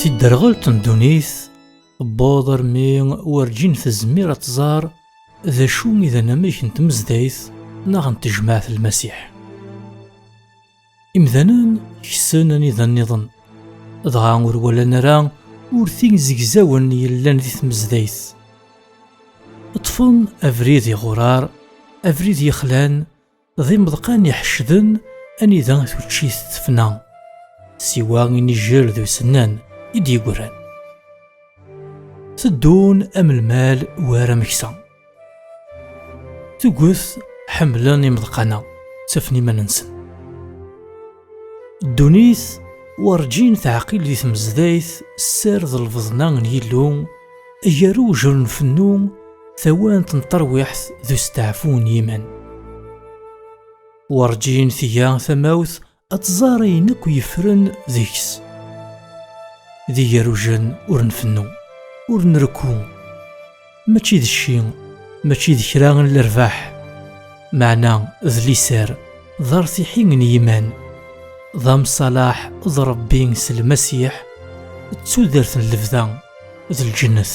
Tidderɣelt n ddunit tewweḍ armi werǧin tezmir ad tẓar d acu i d anamek n tmezdayt neɣ n tejmaɛt Lmasiḥ. Imdanen ksen anida-nniḍen, dɣa ur walan ara urti zegzawen yellan di tmezdayt. Ṭṭfen abrid iɣurar, abrid yexlan, d imeḍqan iḥeccden anida tuččit tefna, siwa inijel d usennan i d-yeggran. Teddun am lmal war ameksa. Tuget ḥemmlen imeḍqana ttafen iman-nsen. Ddunit werǧin teɛqil di tmezdayt sser d lbeḍna n Yillu gar ujr n fennu tawant n terwiḥt d usteɛfu n yiman. Werǧin tga tamawt ad tẓar ayen akk yeffren deg-s d igerujen ur nfennu ur nrekku mačči d cci mačči d kra n lerbaḥ meɛna d liser d artiḥi n yiman d amṣalaḥ d rebbi s lmasiḥ d tudert n lebda d lǧennet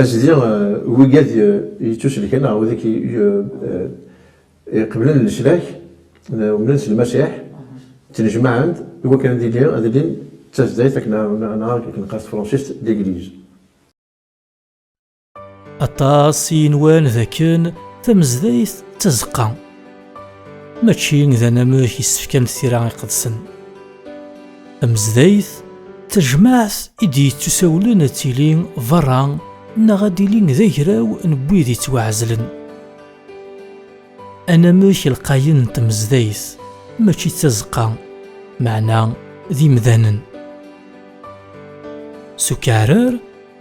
Azdi wigad yettuselken ɣer wid iqeblen leslak n umdan s Lmasiḥ, ttnejmaɛen-d iwakken ad ilin d tazdayt akken ad nɣer s tefransist l'église. Aṭas i yenwan dakken tamezdayt d tazeqqa. Mačči d anamek i s-fkant tira iqedsen. Tamezdayt, tajmaɛt i d-yettusawlen ad tili berra neɣ ad d-ili d agraw n wid yettwaɛezlen. Anamek lqayen n tmezdayt mačči d tazeqqa, meɛna d imdanen. S ukeɛrer,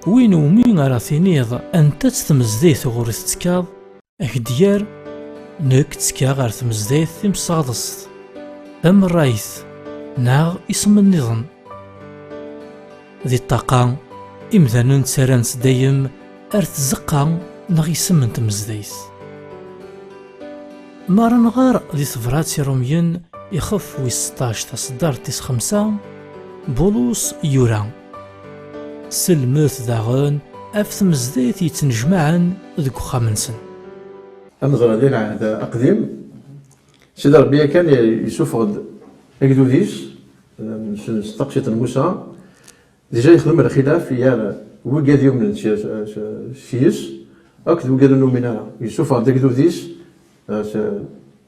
win umi ara tiniḍ anta-tt tmezdayt uɣur i tettekkaḍ, Agedgar, nekk ttekkaɣ ɣer tmezdayt timsaɣḍest, tamerrayt neɣ isem-nniḍen. Di ṭṭaqa, imdanen ttarran-tt dayem ar tzeqqa neɣ isem n tmezdayt. Mi ara nɣer di tebrat i Rumyen ixef wis seṭṭac taṣeddart tis xemsa, Bulus yura. Selmet daɣen ɣef tmezdayt yettnejmaɛen deg uxxam-nsen. Ameẓra di lɛehd aqdim, Sidi Ṛebbi yakan yessufeɣ-d agdud-is s taqsiṭ n Musa, dija yexdem lxilaf gar wigad yumnen s yes-s akked wigad ur numin ara, yessufeɣ-d agdud-is s.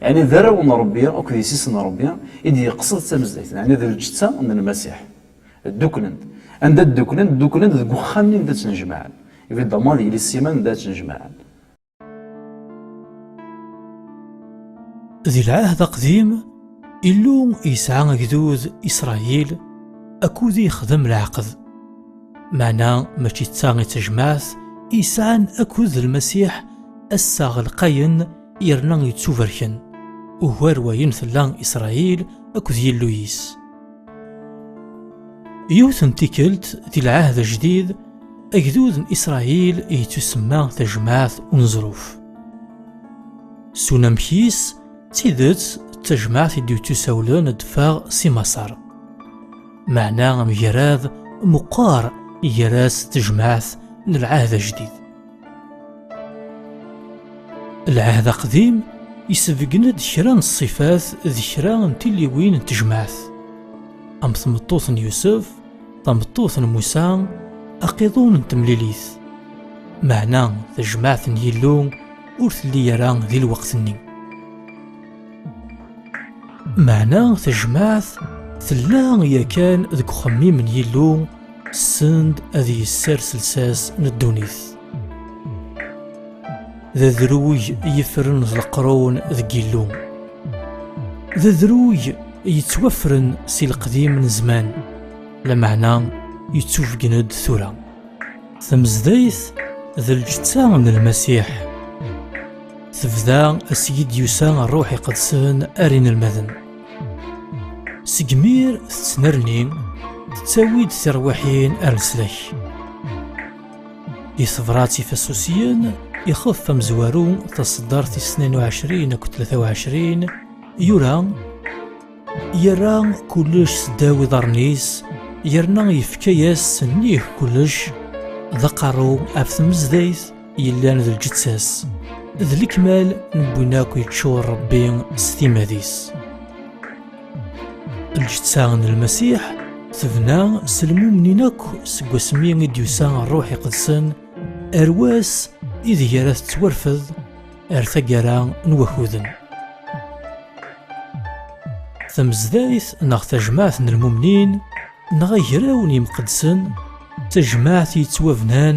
Ɛni d arraw n Ṛebbi akked yessi-s n Ṛebbi i d-yeqsed d tamezdayt, ɛni d lǧetta n Lmasiḥ? Dduklen-d. Anda dduklen? Dduklen-d deg uxxam-nni anda ttnejmaɛen. Evidemment d yelli Siman anda ara ttnejmaɛen. Di Lɛehd Aqdim, Illu yesɛa agdud, Isṛayil, akud i yexdem leɛqed. Meɛna mačči d ta i d tajmaɛt i yesɛan akud d Lmasiḥ, assaɣ lqayen, yerna yettubarken ugar wayen tella Isṛayil akked Yillu-is. Yiwet n tikkelt di lɛahd ajdid, agdud n Isṛayil yettusemma tajmaɛt unezruf. S unamek-is, d tidet d tajmaɛt i d-yettusawlen ad d-teffeɣ si Maṣer. Meɛna amgarad meqqar gar-as d tejmaɛt n lɛahd ajdid. Lɛahd aqdim isebgen-d kra n ṣṣifat d kra n tilliwin n tejmaɛt, am tmeṭṭut n Yusef, tameṭṭut n Musa, aqiḍun n temlilit. Meɛna tajmaɛt n Yillu ur telli ara di lweqt-nni. Meɛna tajmaɛt tella yakan deg uxemmim n Yillu send ad yessers lsas n ddunit d adruj yefren d leqrun deg illu d adruj yettwafren si leqdim n zman lameɛna yettufgen-d tura tamezdayt d lǧetta n lmasiḥ tebda asigi d-yusa ṛṛuḥ iqedsen ar inelmaden Seg mir tettnerni, tettawi-d tirwiḥin ar leslak. Di tebrat ifasusiyen, ixef amezwaru taseddart i snin uɛecrin akked tlata uɛecrin, yura yerra kullec seddaw iḍarren-is yerna yefka-yas nnig kullec d aqerru af tmezdayt yellan d lǧeţţa-s, d lekmal n win akk yeččur Ṛebbi s timad-is. Lǧeţţa n Lmasiḥ tebna s lmumnin akk seg wasmi i d-yusa Ṛṛuḥ Iqedsen ar wass ideg ara teţwarfed ar taggara n wakuden. Tamezdayt neɣ tajmaɛt n lmumnin neɣ agraw n yimqeddsen d tajmaɛt yeţwabnan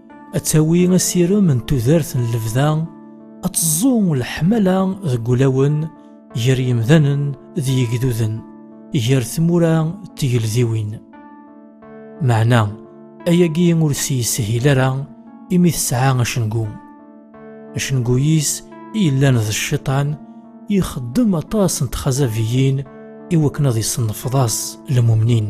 ad tawi asirem n tudert n lebda, ad teẓẓu leḥmala deg ulawen gar yemdanen d yigduden, gar tmura d tgeldiwin. Meɛna, ayagi ur s-yeshil ara imi tesɛa acengu. Acengu-is i yellan d cciṭan, ixeddem aṭas n txazabiyin i wakken ad iṣennefḍas lemumnin.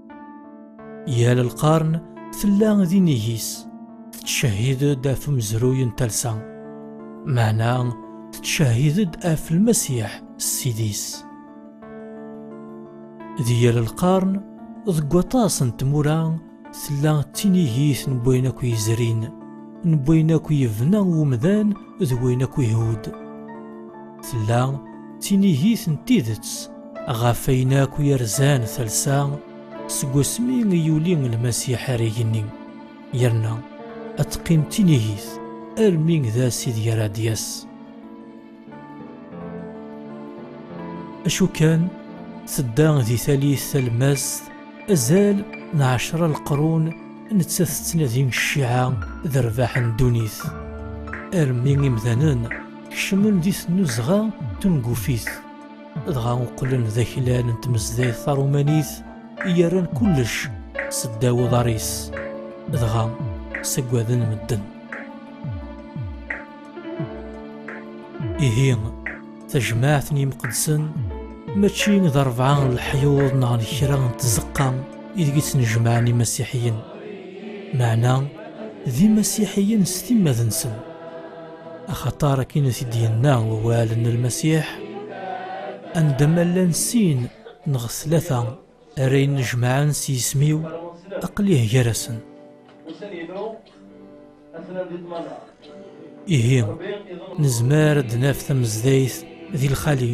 Yal lqarn tella d inigis, tettcehhid-d ɣef umezruy n talsa, meɛna tettcehhid-d ɣef Lmasiḥ Ssid-is. D yal lqarn, deg waṭas n tmura, tella d tinigit n wayen akk yezrin, n wayen akk yebna umdan d wayen akk ihudd. Tella d tinigit n tidet ɣef ayen akk yerzan talsa seg wasmi i yuli Lmasiḥ ar igenni, yerna ad teqqim d tinigit armi d ass ideg ara d-yas. Acu kan, tedda di talit talmast azal n ɛecra leqrun nettat tettnadi cciɛa d rrbaḥ n ddunit armi imdanen Kecmen di tnuzɣa tungufit, dɣa uqlen d aklal n tmezdayt tarumanit i yerran kullec s ddaw uḍar-is, dɣa ssaggaden medden. Ihi, tajmaɛt n yimqeddsen mačči d rebɛa n leḥyuḍ neɣ n kra n tzeqqa ideg i ttnejmaɛen imasiḥiyen, meɛna d imasiḥiyen s timmad-nsen. axaṭar akin i t-id-yenna wawal n lmasiḥ anda ma llan sin neɣ tlata ara innejmaɛen s yisem-iw aqlieh gar-asen ihi nezmer ad d-naf tamezdayt di lxali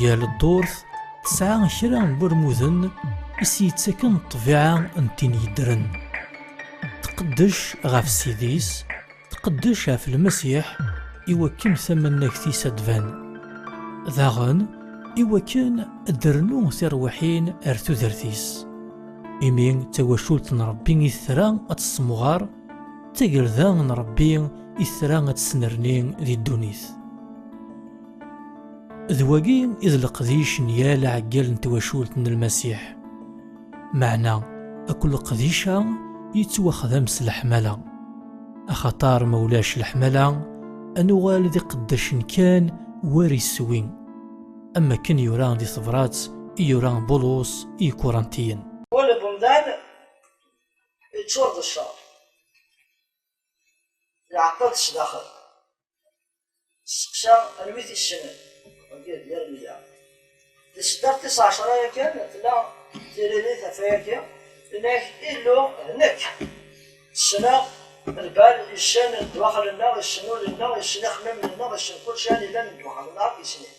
Yal ddurt tesɛa kra n wurmuden i s-yettaken ṭṭbiɛa n tin yeddren. Tqeddec ɣef Ssid-is, tqeddec ɣef Lmasiḥ i wakken tamannagt-is ad d-tban. Daɣen, i wakken ad d-rnu tirwiḥin ar tudert-is. Imi d tawacult n Rebbi i tra ad tessemɣer, d tagelda n Rebbi i tra ad tesnerni di ddunit. D wagi i d leqdic n yal aɛeggal n twacult n Lmasiḥ. Meɛna akk leqdic-a yettwaxdam s leḥmala. Axaṭer ma ulac leḥmala, ad nuɣal d iqeddacen kan war iswi, am wakken yura di tebrat i yura Bulus i Ikurantiyen. Wala n umdan yeččur d cceṛ, iɛeṭṭel-d sdaxel. Steqsa anwa i t-yessnen. Agi ad d-yerr meyya. Di seddaɣ tis ɛecra yakan tella tiririt ɣef wayagi, yenna-ak, Illu, d nekk. Ssneɣ lbal, yessen ddwaxel-nneɣ, yessen ul-nneɣ, yessen ixemmimen-nneɣ, yessen kulci anida neddwaxel, neɣ akk yessen-it.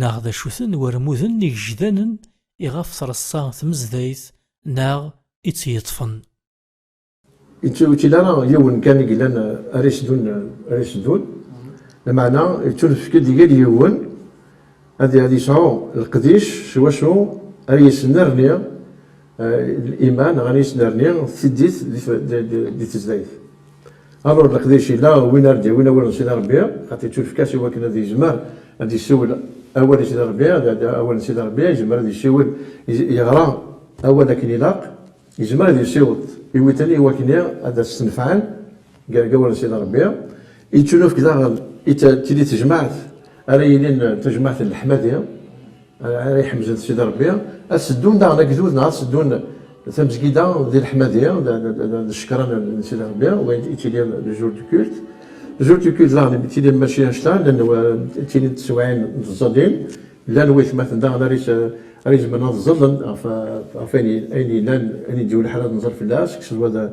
neɣ d acu-ten warmuden igejdanen iɣef treṣṣa tmezdayt neɣ i tt-yeṭṭfen. Yettwekil ara yiwen kan i yellan ara yesdun, ara yesdun, lmeɛna yettunefk-d i yal yiwen ad yesɛu leqdic s wacu ara yesnerni Iman, ɣer yisnerni, d tiddit di tezdayt. Aḍur n leqdic ila win ara d-yawin awal n Sidi Rebbi, xaṭi yettunefk-as i wakken ad yezmer ad yessiwel awal i Sidi Rebbi, ad d awal n Sidi Rebbi, yezmer ad yessiwel, yeɣra awal akken ilaq, yezmer ad yessiweḍ iwiten i wakni ad as-tt-nefɛen. Gargawen n Sidi Ṛebbi, yettunefk daɣen i tili tejmaɛt ara yilin d tajmaɛt n leḥmadi, ara iḥemden Sidi Ṛebbi, ad seddun daɣen agdud neɣ ad seddun tamezgida di leḥmadi d ccekra n Sidi Ṛebbi, wa yettili d jour de culte. Jour de culte daɣen yettili mačči anect-a, llan ttilint tsewɛin n tẓalin, llan waytmaten daɣen ara izemren ad ẓallen ɣef ayen yellan, ayen i d-yuli ḥala ad nẓal fell-as, kkes lwada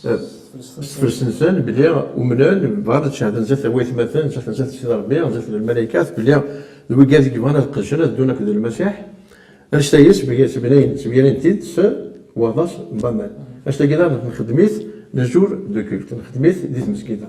s tefres-nsen belli umnen, bɣan, cehden zdat waytmaten, cehden zdat Sidi Rebbi, zdat lmalaykat belli d wigad i yebɣan ad qedcen, ad ddun akked Lmasiḥ. Annect-agi ssemyanin-t-id s waḍas n waman. Annect-agi daɣen nxeddem-it, nos jours de culte, nxeddem-it di tmezgida.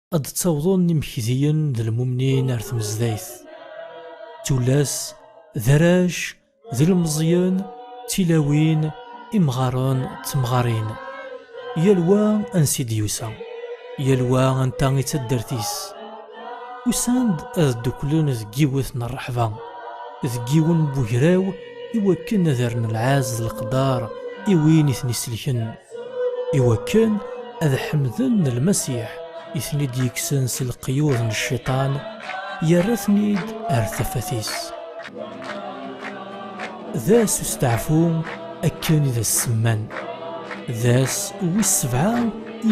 ad d-ttawḍen imekdiyen d lmumnin ar tmezdayt. Tullas, d arrac, d ilmeẓyen, d tilawin, imɣaren, d temɣarin. Yal wa ansi d-yusa, yal wa anta i taddart-is. Usan-d ad ddukklen deg yiwet n rreḥba, deg yiwen n wegraw i wakken ad rren lɛaz d leqdar i win i ten-iselken. iwakken ad ḥemden lmasiḥ i ten-id-yekksen si leqyud n cciṭan, yerra-ten-id ar tafat-is. D ass usteɛfu akken i d as-semman, d ass wis sebɛa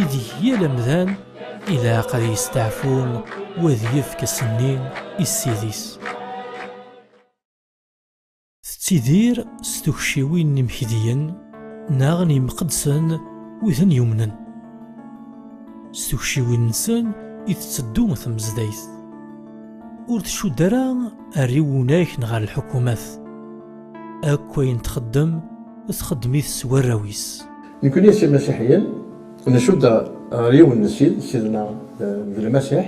ideg yal amdan ilaq ad yesteɛfu u ad yefk asenni i ssid-is. Tettidir s tukciwin n yimekdiyen neɣ n yimqeddsen wi ten yumnen. S tukciwin-nsen i tetteddu tmezdayt. Ur tcudd ara ar iwunak neɣ ar lḥukumat. Akk ayen txeddem, txeddem-it s warraw-is. Nekkni s imasiḥiyen, ncudd ar yiwen n Ssid, Ssid-nneɣ d Lmasiḥ.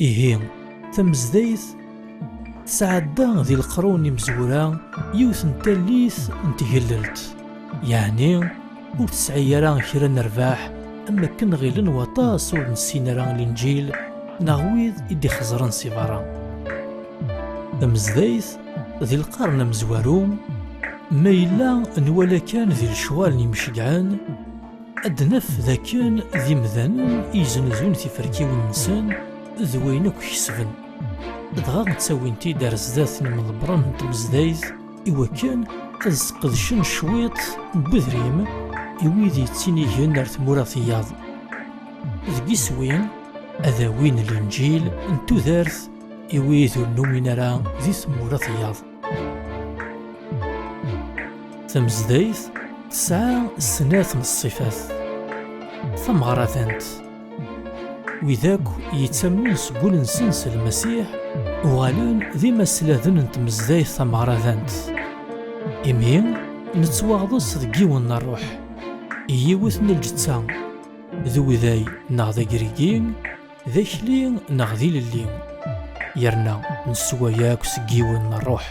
Ihi, tamezdayt tesɛedda di leqrun imezwura yiwet n tallit n tgellelt, yeɛni ur tesɛi ara kra n rrbeḥ am wakken ɣilen waṭas ur nessin ara Linǧil neɣ wid i d-ixeẓren si berra. Tamezdayt di lqern amezwaru, ma yella nwala kan di lecɣal n yimceggɛen, Ad d-naf d akken d imdanen i yeznuzun tiferkiwin-nsen d wayen akk kesben, dɣa ttawin-t-id ar sdat n yimḍebbren n tmezdayt i wakken ad sqedcen cwiṭ n wedrim i wid yettinigen ar tmura tiyaḍ. Deg iswi-n, ad awin Linǧil n tudert i wid ur numin ara di tmura tiyaḍ. Tamezdayt tesɛa snat n ṣṣifat tameɣradant wid akk yettamnen seg wul-nsen s lmasiḥ uɣalen d imasladen n tmezdayt tameɣradant imi nettwaɣḍes deg yiwen n ṛṛuḥ i yiwet n lǧetta d uday neɣ d agrigi D akli neɣ d ilelli yerna neswa yakk seg yiwen n ṛṛuḥ.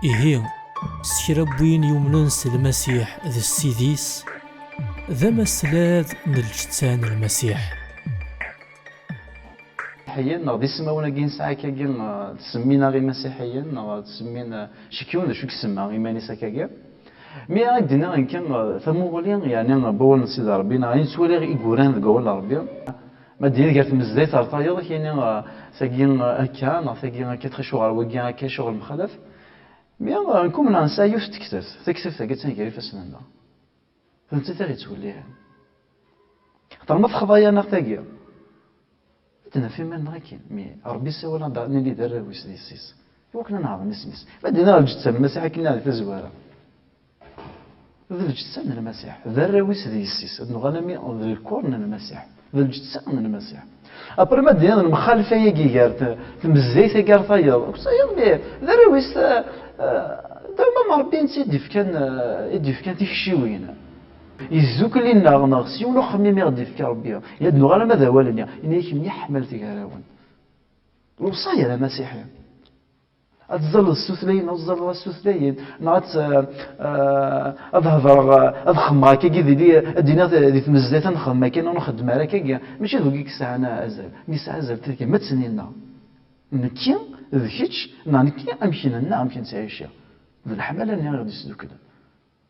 Ihi, s kra n win yumnen s Lmasiḥ d Ssid-is, d amaslad n lǧetta n Lmasiḥ. Iḥiyen neɣ d ismawen-agi nesɛa akkagi, ttsemmin-aɣ Imasiḥiyen neɣ ttsemmin, cikk yiwen d acu i isemma iman-is akkagi. Mi ara ak-d-nniɣ nekk, tamuɣli, yeɛni n wawal n Sidi Ṛebbi, neɣ ayen ttwaliɣ i yuran deg wawal n Ṛebbi, ma d-nini gar tmezdayt ɣer tayeḍ, ad k-iniɣ tagi akka, neɣ tagi akka, tɣic uɣer wagi akka, acuɣer mxalaf? Mi nekk umneɣ nesɛa yiwet n tektabt, taktabt-agi attan gar ifassen-nneɣ, d nettat i ɣ-yettwellihen. Axaṭer ma texḍa-yaneɣ tagi. Naf iman-nneɣ akkin, mi Ṛebbi isawal-aɣ-d ad nili d arraw-is, d yessi-s, i wakken ad neɛḍem isem-is. Ma d nniɣ lǧetta n Lmasiḥ akken nniɣ di tazwara, d lǧetta n Lmasiḥ, d arraw-is d yessi-s, ad nuɣal ami d lkuṛ n Lmasiḥ, d lǧetta n Lmasiḥ. Apre ma d-nniɣ lemxalfa yagi gar tmezzayt agi ar tayeḍ, akked tayeḍ mi d arraw-is, d awmam n Ṛebbi netta i d-yefkan tikciwin. Yezzukel-inneɣ neɣ s yiwen uxemmim i ɣ-d-ifka Rebbi, i ad nuɣ alamma d awal-nni, Ini-yak mliḥ ḥmal tegarawen. Lewṣaya n amasiḥi. Ad tzalleḍ s tutlayin neɣ ur tzalleḍ ara s tutlayin, neɣ ad ad hedreɣ, ad xemmeɣ akkagi dili, ad d-iniɣ di tmezdayt ad nexdem akka neɣ ur nxeddem ara akkagi, mačči d wagi i yesɛan azal. Mi yesɛa azal tegmatt-nni-nneɣ, nekki d kečč, neɣ nekki amek nella, amek nettɛici, d leḥmala-nni i ɣ-d-yesduklen.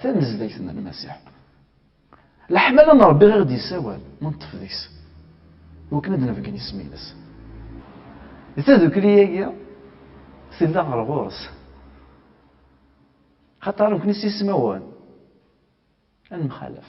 Tanezzayt n Lmasiḥ. Leḥmala n Ṛebbi i ɣ-d-yessawal, ma neṭṭef deg-s i wakken ad nbeggen isem-ines. Di tadukli-agi, tella ɣer ɣur-s. Axaṭer nekni s ismawen ad nemxalaf.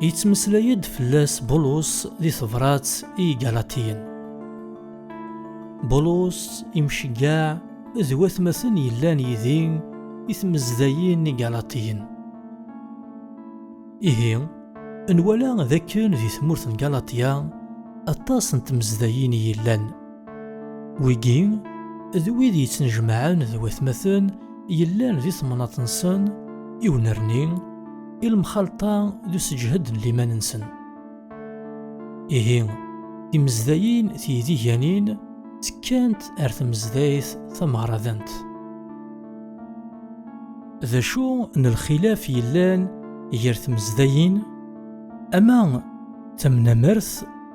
Yettmeslay-d fell-as Bulus di tebrat i Igalatiyen. Bulus imceggaɛ d watmaten yellan yid-i i tmezdayin n Igalatiyen. Ihi, nwala d akken di tmurt n Galatiya aṭas n tmezdayin i yellan. Wigi, d wid yettnejmaɛen d watmaten yellan di temnaḍt-nsen, i unerni, i lemxalṭa d useǧhed n liman-nsen. Ihi, timezdayin tiydiganin ttekkant ar tmezdayt tameɣradant. D acu n lxilaf yellan gar tmezdayin? Ama tamnamert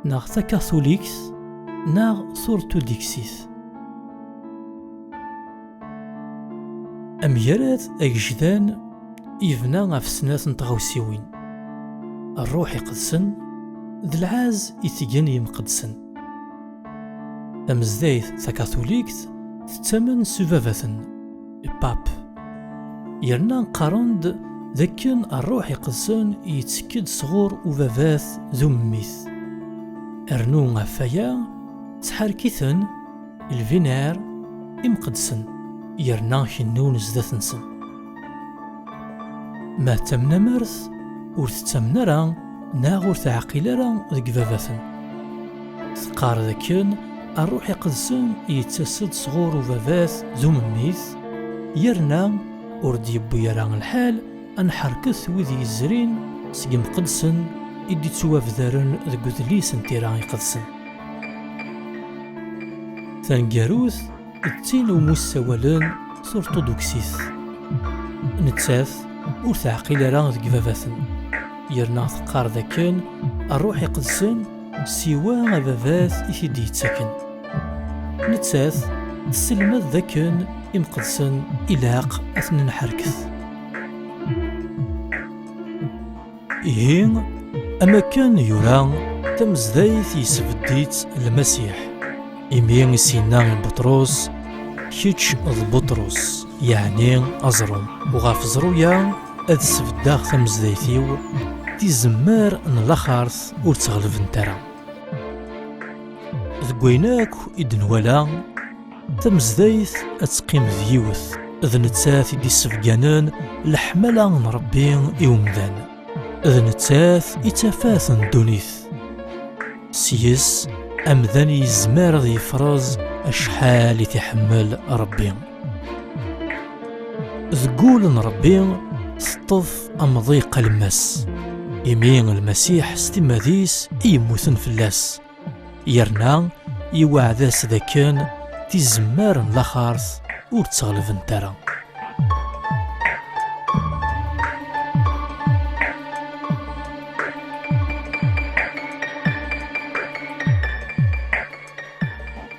neɣ takatulikt neɣ turtudiksit. Amgarad agejdan yebna ɣef snat n tɣawsiwin, rruḥ iqedsen d lɛaz i tgen yimqedsen. Tamezdayt takatulikt tettamen s ubabaten. Pap. Yerna qqaren-d d akken rruḥ iqedsen yettekk-d sɣur ubabat d ummit. Rnu ɣef waya ttḥerkiten lbinar imqedsen yerna kennun sdat-nsen. Ma d tamnamart, ur tettamen ara neɣ ur teɛqil ara deg ibabaten. Teqqar dakken rruḥ iqedsen yettas-d sɣur ubabat d umemmit, yerna ur d-yewwi ara lḥal ad nḥerket wid yezrin seg yimqeddsen i d-ittwabdaren deg udlis n tira iqedsen. Taneggarut, d tin umi ssawalen s urṭuduksit. Nettat ur teɛqil ara deg ibabaten, yerna teqqar d akken ṛṛuḥ iqedsen siwa ababat i t-id-yettaken. Nettat tesselmad d akken imqedsen ilaq ad ten-nḥerket. Ihi, am akken yura, tamezdayt yesbedd-itt Lmasiḥ. Imi i s-yenna i Buṭrus, Kečč d Buṭrus, yeɛni aẓru. Uɣef ẓru-ya ad sbeddeɣ tamezdayt-iw, tizemmar n laxert ur tt-ɣelbent ara. Deg wayen akk i d-nwala, Tamezdayt ad teqqim d yiwet, d nettat i d-issebganen leḥmala n Rebbi i umdan. D nettat i tafat n ddunit. Seg-s, amdan yezmer ad yefreẓ acḥal i t-iḥemmel Rebbi. Deg wul n Rebbi, teṭṭef amḍiq alemmas. Imi Lmasiḥ s timmad-is i yemmuten fell-as, yerna iweɛd-as d akken tizemmar n laxart ur ttɣelbent ara.